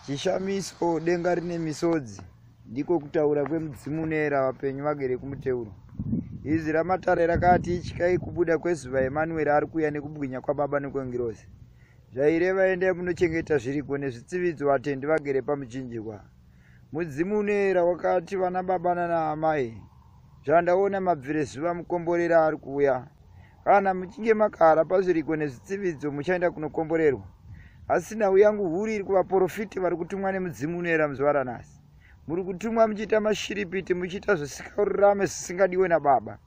chishamiso denga rine misodzi ndiko kutaura kwemudzimu uneera vapenyu vagere kumuteuro izwi ramatare rakati ityai kubuda kwezuva emanueri ari kuuya nekubwinya kwababa nekwengirozi zvaireva endai munochengeta zviriko nezvitsividzo vatendi vagere pamuchinjikwa Mudzimu unoera wakati vana baba nana amai zvandaona mabvire zuva mukomborera ari kuuya kana muchinge makara pazviriko nezvitsividzo muchaenda kunokomborerwa asi nhau yangu huru iri kuvaporofiti vari kutumwa nemudzimu unoera muzuva ranhasi muri kutumwa muchiita mashiripiti muchiita zvisingarurame zvisingadiwe nababa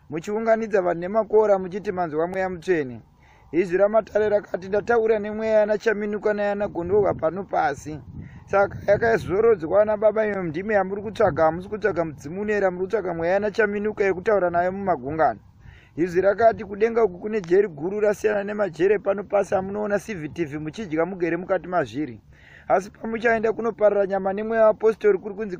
muchiunganidza vanhu nemakora muchiti manzwa mweya mutsvene izwi ramatare rakati ndataura nemweya yana chaminuka nayana gondorwa pano pasi saka yakazorodzwa ana baba iyo ndime yamuri kutsvaga hamusi kutsvaga mudzimu unoera muri kutsvaga mweya yana chaminuka yekutaura nayo mumagungano izwi rakati kudenga uku kune jeri guru rasiyana nemajere pano pasi amunoona cvtv muchidya mugere mukati mazviri asi pamuchaenda kunoparira nyama nemweya waapostori kuri kunzi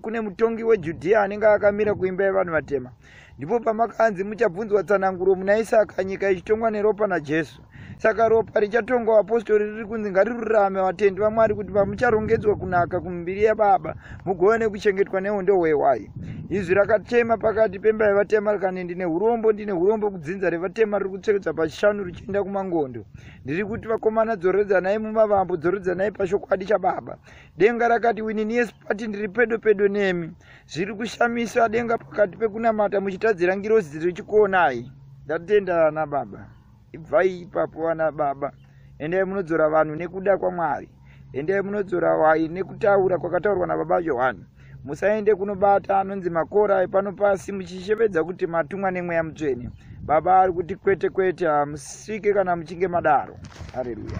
kune mutongi wejudhiya anenge akamira kuimba yevanhu vatema wa ndipo pamakanzi muchabvunzwa tsananguro muna isaka nyika ichitongwa neropa najesu saka ropa richatongwa vapostori riri kunzi ngarirurame vatendi vamwari kuti pamucharongedzwa kunaka kumiviri yababa mugova nekuchengetwa nehondo hwehwai izwi rakatema pakati pemba yevatema rikani ndine urombo ndine urombo kudzinza revatema riri kutsekedza pachishanu richienda kumangondo ndiri kuti vakomana dzoredzanai mumavambo dzoredzanai pashokwadi chababa denga rakati wininiespati ndiri pedo pedo nemi zviri kushamisa denga pakati pekunamata muchitadzira ngirozi dziri chikuonai ndatenda ana baba ibvai ipapo ana baba endai munodzora vanhu nekuda kwamwari endai munodzora wai nekutaura kwakataurwa nababa johani musaende kunobata anonzi makora epano pasi muchishevedza kuti matumwa nemweya mutsvene baba ari kuti kwete kwete hamusvike kana muchinge madaro hareruya